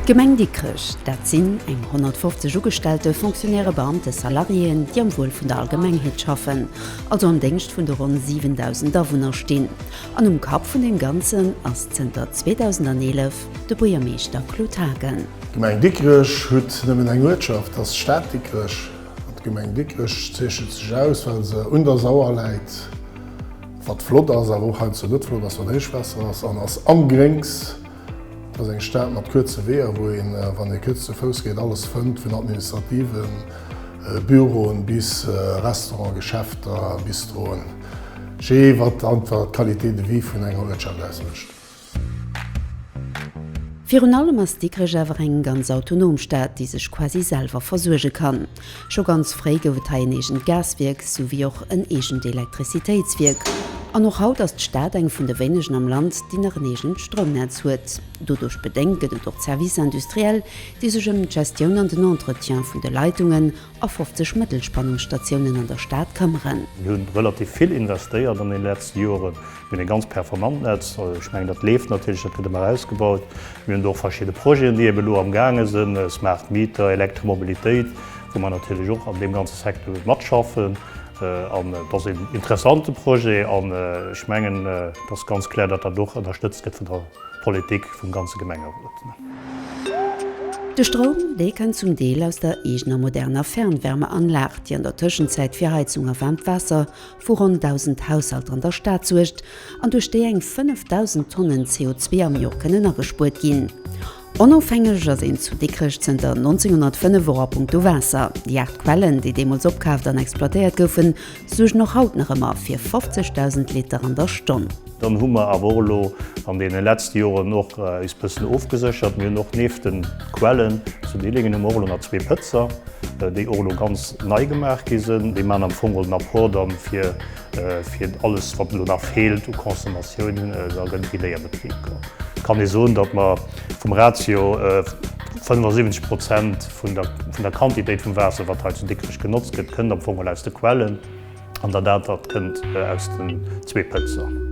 D'Gemeng Dikrech, dat sinn eng 150 Ugestellte, Fonctionnairë, Beamte, Salariéen, déi am Wuel vun der Allgemengheet schaffen, also am Déngscht vun de ronn 7.000 Awunner stinn. An um Kapp vun deem Ganzen ass zënter 2011, De Buergermeeschter Claude Haagen. D'Gemeng Dikrech huet nëmmen eng Uertschaft, dat ass d'Stad Dikrech. An d'Gemeng Dikrech zeechent sech aus, well se un der Sauer läit, wat flott ass, awer och heiansdo net flott ass, wann Héichwaasser ass, an ass am Gréngs. Et ass eng Stad mat kuerze Weeër, wou een, wann ee kuerz ze Fouss geet, alles fënnt, vun administrativen Büroen bis Restauranten, Geschäfter, Bistroen, jee wat einfach d'Qualité de vie vun enger Uertschaft ausmécht. Virun allem ass Dikrech awer eng ganz autonom Stad, déi sech quasi selwer versuerge kann. Scho ganz fréi gouf et hei en eegent Gaswierk, esou wéi och en eegent Elektrizitéitswierk. An och haut ass d'Stad eng vun de wéinegen am Land, déi nach en eegent Stroumnetz huet. Doduerch bedéngt gëtt et och d'Services industriels, déi sech ëm d'Gestioun an den Entretien vun de Leitungen a 50 Mëttelspannungsstatiounen an der Stad këmmeren. Mir hunn relativ vill investéiert an den letzten Joren. Mir hunn e ganz performant Netz. Ech mengen dat leeft natierlech, dat gëtt ëmmer ausgebaut. Mir hunn do och verschidde Projeten déi eben elo am gaange sinn, smart Meter, Elektromobilitéit, wou mer natierlech och an deem ganze Secteur matschaffen. An et ass een interessante Projet an ech mengen et ass ganz klär, datt dat och ënnerstëtzt gëtt vun der. Politik vum ganze Gemengerot. De Stroum, dee kënnt zum Deel aus der eegener moderner Fernwärmeanlag, déi an der Tëschenzäit fir Heizung a waarmt Waasser vu ronn 1.000 Haushalter an der Stad suergt an duerch déi eng 5.000 Tonnen CO2 am Jor kënnen agespuert ginn. Onofhängeg ass een zu Dikrech zënter 1905 och a punkto Waasser. Déi 8 Quellen, déi deemools opkaaft an exploitéiert goufen, suergen och haut nach ëmmer fir 50.000 Liter an der Stonn. Dann hu mer awer och elo an deene letzte Joren och eis bëssen ofgeséchert. Mir hunn och neeft de Quellen zu Dillingen hu mer och elo nach zwee Pëtzer, déi och elo ganz nei gemaach gi sinn. Déi maachen am Fong geholl den Apport dann fir, fir alles wat elo nach feelt u Consommatioun. Da gëtt et iwwéi e Betrib kann ee soen, datt mer vum Ratio 75 Prozent, Vun der Quantitéit vum Waasser, wat hei zu Dikrech genotzt gëtt, kënnt am Fong mol aus de Quellen an dat anert kënnt aus den zwee Pëtzer.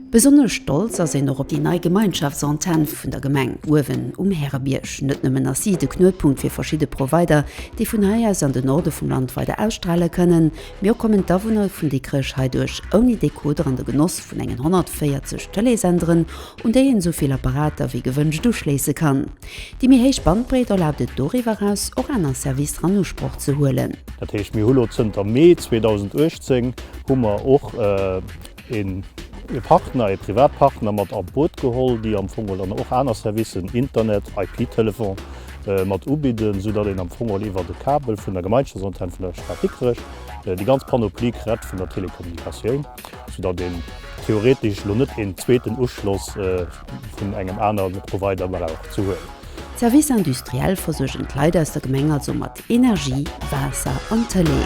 Besonnesch stolz ass een och op déi nei Gemeinschaftsantenn vun der Gemeng uewen um Härebierg. Net nëmmen ass si de Knuetpunkt fir verschidde Provider, déi vun hei aus an de Norde vum Land weider ausstrale kënnen, mee och kommen d'Awunner vun Dikrech heiduerch ouni Decoder an de Genoss vun engen 140 Tëleesenderen un déi een esou vill Apparater wéi gewënscht uschléisse kann. Déi méi héich Bandbreet erlaabt et doriwwer eraus och aner Servicer an Usproch ze huelen. Dat heescht, mir hu lo zënter Mee 2018 hu mer och ee Partner, ee Privatpartner mat an d'Boot geholl, déi am Fong dann och aner Servicen, Internet, IP-Telefon, mat ubidden, soudatt een am Fong iwwert e Kabel vun der Gemeinschaftsantenne vun der Stad Dikrech déi ganz Panoplie krett vun der Telekommunikatioun. Sou datt een theoretesch elo net een zweeten Uschloss vun engem anere Provider brauch ze huelen. D'Services industriels versuergen d'Leit aus der Gemeng also mat Energie, Waasser an Tëlee.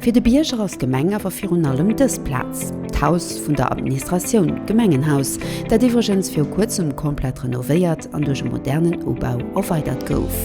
Fir de Bierger ass d'Gemeng awer virun allem dës Plaz, d'Haus vun der Administratioun, d'Gemengenhaus, dat iwwregens viru kuerzem komplett renovéiert an duerch e modernen Ubau erweidert gouf.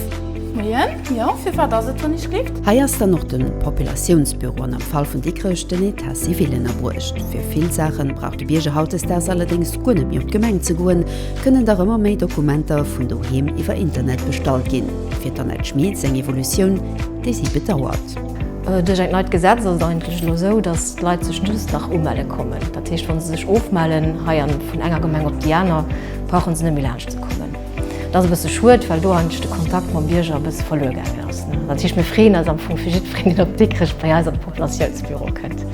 Moien, jo, firwat ass et do ni Schlift? Hei ass dann och de Populatiounsbüro an am Fall vun Dikrech den État civil ënnerbruecht. Fir vill Saache brauch de Bierger hautdesdaags allerdéngs guer net méi op d'Gemeng ze goen, kënnen dach ëmmer méi Dokumenter vun doheem iwwer Internet bestallt ginn, fir d'Annette Schmit seng Evolutioun, déi si bedauert. Duerch eng neit Gesetz ass et eigentlech elo esou, datt d'Leit sech just nach umelle kommen. Dat heescht, wa se sech ofmellen hei an vun enger Gemeng op déi aner, brauche se net méi laanscht ze kommen. Dat ass e bësse schued, well do eigentlech de Kontakt mam Bierger e bësse verluer gaangen ass. Dat heescht, mir freeën eis am Fong fir jiddwereen, deen op Dikrech bei eis an de Populatiounsbüro kënnt.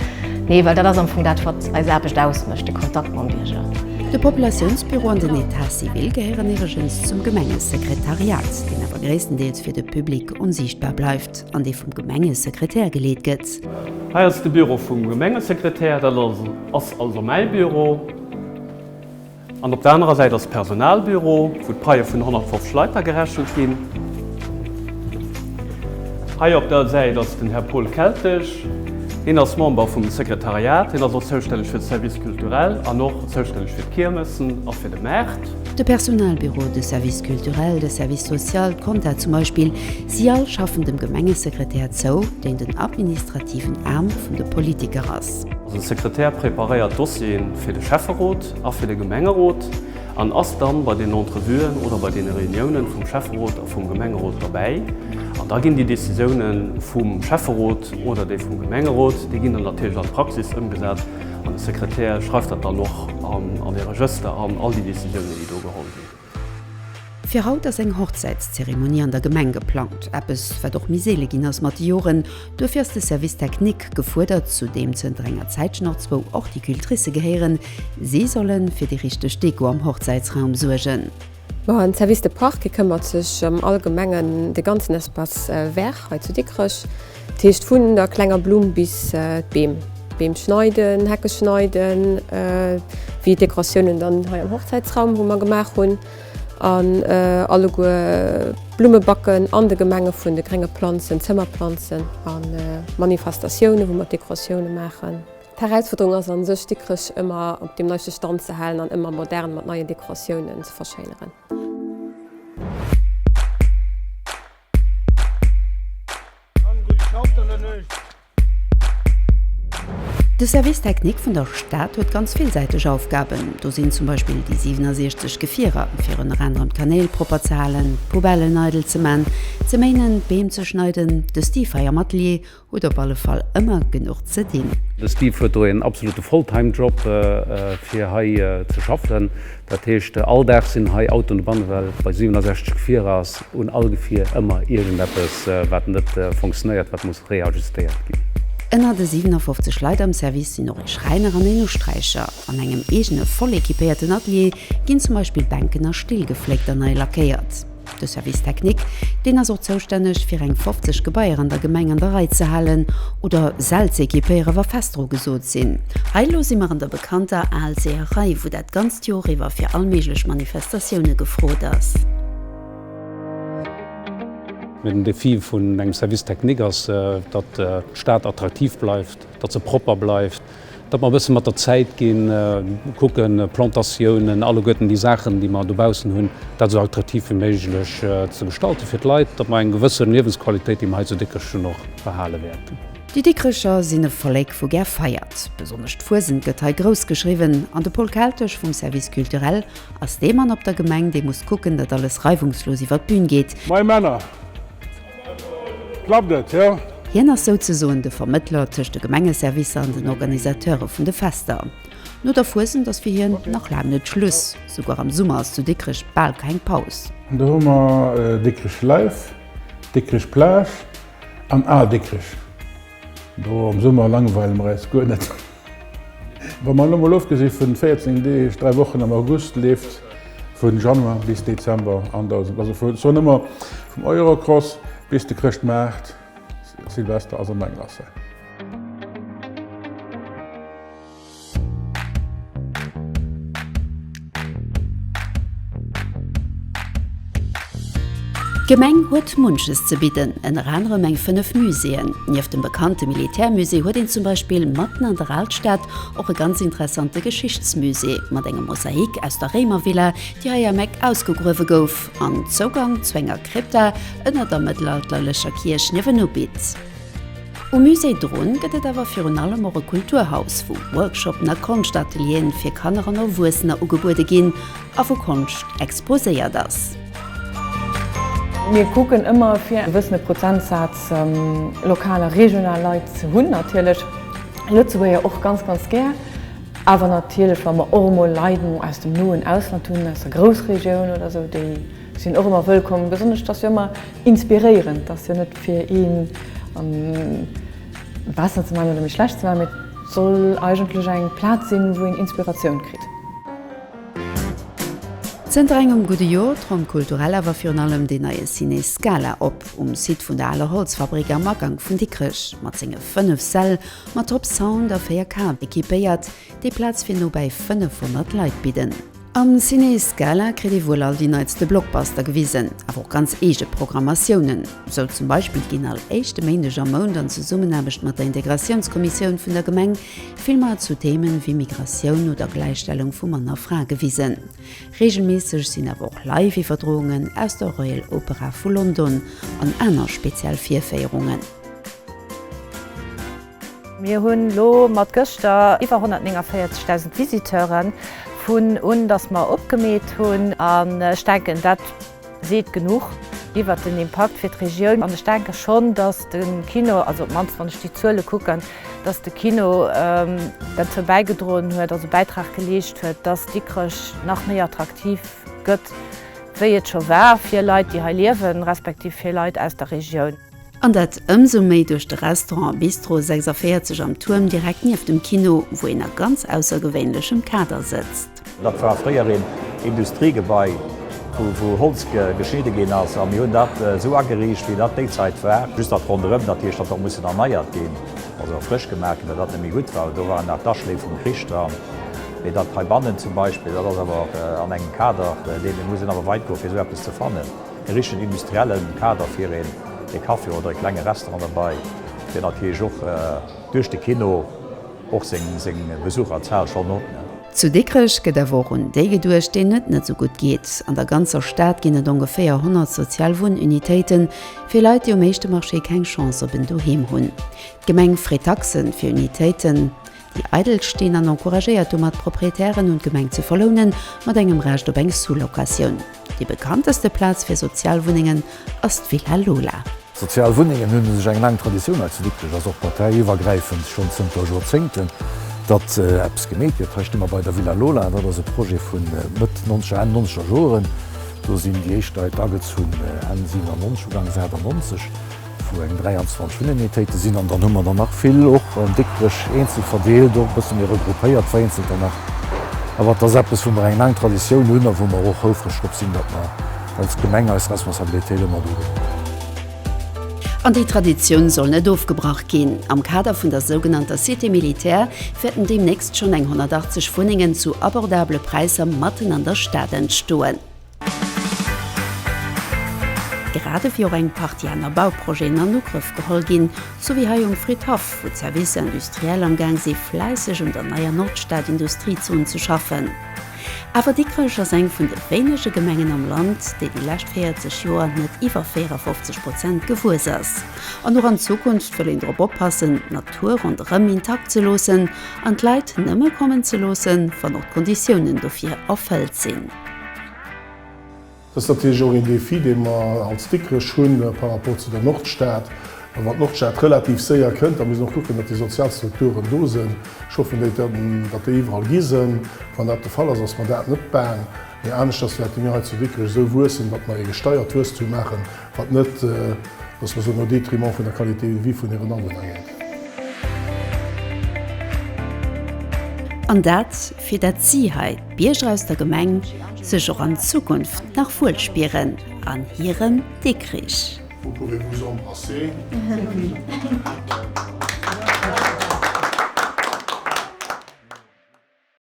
Nee, well dat ass am Fong dat, wat eis Aarbecht ausmécht, de Kontakt mam Bierger. De Populatiounsbüro an den État civil gehéieren iwwregens zum Gemengesekretariat, deen awer gréisstendeels fir de Public onsiichtbar bleift. an dee vum Gemengesekretär geleet gëtt. Hei ass de Büro vum Gemengesekretär, dat ass also mäi Büro. An op der anerer Säit ass d'Personalbüro, wou d'Paie vun 150 Leit da gerechent ginn. Hei op der Säit ass den Här Paul Keltesch. Hien ass Member vum Sekretariat. Hien ass och zoustänneg fir de Service culturel an och zoustänneg fir d'Kiermessen a fir de Maart. De Personalbüro, de Service culturel, de Service social, d'Kompta zum Beispill, Si all schaffen dem Gemengesekretär zou, deen den administrativen Aarm vun de Politiker ass. De Sekretär preparéiert d'Dossieren fir de Schäfferot a fir de Gemengerot an ass dann bei den Entrevuen oder bei den Reuniounen vum Schäfferot a vum Gemengerot derbäi. An da ginn déi Décisiounen vum Schäfferot oder déi vum Gemengerot, déi ginn dann natierlech an d'Praxis ëmgesat an de Sekretär schreift dat dann och an e Regëster an, all déi Décisiounen, déi do geholl ginn. Fir haut ass eng Hochzäitszeremonie an der Gemeng geplangt, eppes wat och méi seele ginn ass mat de Joren. Duerfir ass de Service technique gefuerdert, zu deem zënter enger Zäitchen och zwou Horticultricë gehéieren. Si solle fir déi richteg Deko am Hochzäitsraum suergen. De Service de parc këmmert sech ëm allgemengen de ganzen Espace vert hei zu Dikrech. Dat heescht vun der klenger Blumm bis d'Beem. Beem schneiden, Hecke schneiden, wéi Dekoratiounen dann hei am Hochzäitsraum, wou mer gemaach hunn. An alleguer Blumme backen an de Gemenge vun de grénge Planzen, Zëmmerplanzen a Manifestatiounen, wou mer Dekoratioune maachen. D'Erausfuerderung ass a sech, Dikrech ëmmer op deem neiste Stand ze halen an ëmmer modern mat neien Dekoratiounen ze verschéineren. De Service technique vun der Stad huet ganz villsäiteg Aufgaben. Do sinn zum Beispill déi 67 Gefierer, fir ënner anerem d'Kanäl propper ze halen, d'Poubellen eidel ze man, ze méinen, d'Beem ze schneiden, de Stifeier mat Lee, Hutt op alle Fall ëmmer genuch ze dinn. De Steve huet do een absolute Full-time Job fir hei ze schaffen. Dat heescht all Dag sinn hei Autoen de Banne well bei 67 Gefierer ass un all Gefier ëmmer iergendeppes wat net fonctionéiert wat muss reajustéiert ginn. Ënner de 57 Leit am Service sinn och ee Schräiner an een Usträicher. An engem eegene voll equipéierten Atelier ginn zum Beispill Bänken a Still gefléckt an nei lackéiert. De Service technique, deen ass och zoustänneg fir eng 50 Gebaier an der Gemeng an der Rei ze halen oder sel ze equipéieren, wa fest dru gesot sinn. Hei elo si mer an der bekannter Aalseerei, wou dat ganzt Joer iwwer fir all méiglech Manifestatioune gefrot ass. Mä den Défi vun engem Service technique ass, datt d'Stad attraktiv bleift, datt se propper bleift. datt mer e bësse mat der Zäit ginn, kucken, Plantatiounen, alleguerten déi Saachen, déi mer dobaussen hunn, dat esou attraktiv wéi méiglech ze gestalten fir d'Leit, datt mer eng gewëssen Liewensqualitéit, déi mer hei zu Dikrech hunn, och behale wäerten. Déi Dikrecher sinn e Vollek wou gär feiert. Besonnesch d'Fuesent gëtt hei grouss geschriwwen an de Paul Keltesch vum Service Culturel ass dee Mann op der Gemeng, dee muss kucken, datt alles reiwungslos iwwer d'Bün geet. Mei Männer! Klappt et, jo? Hien ass souzesoen de Vermëttler tëscht de Gemengeservicer an den Organisateure vun de Fester. No der Fuesent ass fir hien nach laang net Schluss. Souguer am Summer ass zu Dikrech bal keng Paus. Do hu mer Dikrech Live, Dikrech Plage an Al Dikrech. Do am Summer langweile mer eis guer net. Wa mer elo mol ofgesi vun 14 Deeg, 3 Wochen am August, leeft vun Januar bis Dezember an der, also vun Sonnemar vum Eurocross bis de Chrëschtmaart, Silvester, ass an der Glace. D'Gemeng huet munches ze bidden, ënner anerem eng 5 Muséeën. Nieft dem bekannte Militärmusée huet een zum Beispill matten an der Alstad och e ganz interessante Geschichtsmusée mat engem Mosaik aus der Réimervilla, déi hei am Eck ausgegruewe gouf an Zougang zu enger Krypta ënner der mëttelalterlecher Kierch niewenu bitt. Um Musée Drun gëtt et awer virun allem och e Kulturhaus, wou Workshoppen a Konschtatelier'en fir Kanner an Erwuessener ugebuede ginn a wou Konscht exposéiert ass. Mir kucken ëmmer fir e bëssen e Prozentsaz lokal a regional Leit ze hunn, natierlech Lëtzebuerger och ganz ganz gär, awer natierlech wa mer och emol Leit aus dem noen Ausland hunn, aus der Groussregioun oder sou, déi. Sinn och ëmmer wëllkomm, besonnesch dass jo ëmmer inspiréierend dass jo net fir een an besser ze man oder méi schlecht ze man, mee et soll eigentlech eng Platz sinn wou een Inspiratioun kritt. Zënter engem gudde Joer tronkt kulturell awer virun allem deen neie Ciné Scala op, um Site vun der aler Holzfabrick am Agank vun Dikrech. Mat senge 5 Säll, mat Top Sound a 4 K-Equipéiert, déi Platz fir nobäi 500 Leit bidden. Am Ciné Scala kritt ee wuel all déi neitste Blockbuster gewisen, awer och ganz eege Programmatiounen. Sou zum Beispill ginn all éischte Méindeg am Mount an Zesummenaarbecht mat der Integratiounskommissioun vun der Gemeng Filmer zu Themen wéi Migratioun oder Gläichstellung vu Mann a Fra gewisen. Reegelméisseg sinn awer och Live-Iwwerdroungen aus der Royal Opera vu London an aner speziell Virféierungen. Mir hunn elo mat gëschter iwwer 149.000 Visiteuren, vun un datt mer opgemeet hunn. An ech denken, dat seet genuch iwwer den Impakt fir d'Regioun. An ech denke schonn, datt de Kino, also op d'mannst wann ech déi Zuele kucken, datt de Kino derzou bäigedroen huet, also Bäitrag geleescht huet, datt Dikrech nach méi attraktiv gëtt, wéi et scho war fir Leit, déi hei liewen, respektiv fir Leit aus der Regioun. An dat ëmsou méi duerch de Restaurant Bistro 46 am Tuerm direkt nieft dem Kino, wou een a ganz aussergewéinlechem Kader sëtzt. Dat war fréier een Industriegebai, wou Holz geschnidde ginn ass. A mir hunn dat esou ageriicht, wéi dat déi Zait war. Just dat ronderëm, dat heescht, dat hat mussen erneiert ginn, also frësch gemaach ginn, well dat net méi gutt war. Do waren nach d'Aschléi vum Krich dran. Mee dat heibannen zum Beispill, dat ass awer an engem Kader, dee mir mussen awer weit goe fir esou eppes ze fannen. E richtegen industriellen Kader fir een ee Café oder ee klenge Restaurant derbei, deen natierlech och duerch de Kino och seng Besucherzahlen schonn huet. Zu Dikrech gëtt awer och un déi geduecht, deenen et net esou gutt geet. An der ganzer Stad ginn et ongeféier 100 sozial Wunnunitéiten, fir Leit, déi um éischte Marché keng Chance op en Doheem hunn. D'Gemeng freet Taxen fir Unitéiten. déi eidel stinn, an encouragéiert domat d'Propriétairen un d'Gemeng ze verlounen, mat engem Recht op eng Sous-Locatioun. Déi bekannteste Plaz fir Sozialwunnengen ass d'Villa Lola. Sozial Wunnengen hunn u sech eng laang Traditioun. Hei zu Dikrech ass och parteiiwwergräifend schonn zënter Joerzéngten, datt eppes gemeet gëtt. Hei sti mer bei der Villa Lola. Dat ass e Projet vu Mëtt nonzeger, Enn nonzeger Joren. Do sinn déi éischt Leit agezu Enn 97, ugangs 98. Vu eng 23 Uninitéite sinn an dann hu mer der nach vill och Dikrech eenzel verdeelt, och e bësse méi regroupéiert vereenzelter nach. Awer et ass eppes, wou mer eng laang Traditioun hunn a wou mer och houfreg drop sinn, datt mer als Gemeng eis Responsabilitéit ëmmer do geholl hunn. An déi Traditioun soll net ofgebrach ginn. Am Kader vun der sougenannter Cité militaire wäerten deemnächst schonn eng 180 Wunnengen zu abordable Präisser matten an der Stad entstoen. Grad ewéi och eng Partie aner Bauprojeten an Ugrëff geholl ginn, sou wéi hei um Fridhaff, wou d'Services industriels am Gaang si fläisseg un der neier Nordstad-Industriezon ze schaffen. Awer Dikrech ass eng vun de wéinege Gemengen am Land, déi déi lescht 40 Joer net iwwer 54 Prozent gewuess ass. An och an Zukunft wëll een drop oppassen, d'Natur ronderëm intakt ze loossen an d'Leit nëmme kommen ze loossen, wann och d'Konditiounen dofir erfëllt sinn. Dat ass natierlech och een Défi, dee mer als Dikrech hunn par rapport zu der Nordstad. A wann d'Nordstad relativ séier kënnt, da muss een och kucken, datt déi sozial Strukturen do sinn. Ech hoffen, datt déi iwwerall gi sinn. Wann dat de Fall ass, ass mer dat net baang. Mee aneschters wäerte mir hei zu Dikrech esou wuessen, datt mer ee gesteiert Wuesstum maachen, Wat net dass mer soen au détriment vun der Qualité de vie vun hiren Awunner geet. An dat, fir dat si hei, d'Bierger aus der Gemeng, sech och an Zukunft nach wuel spieren an hirem Dikrich. Vous pouvez vous embrasser.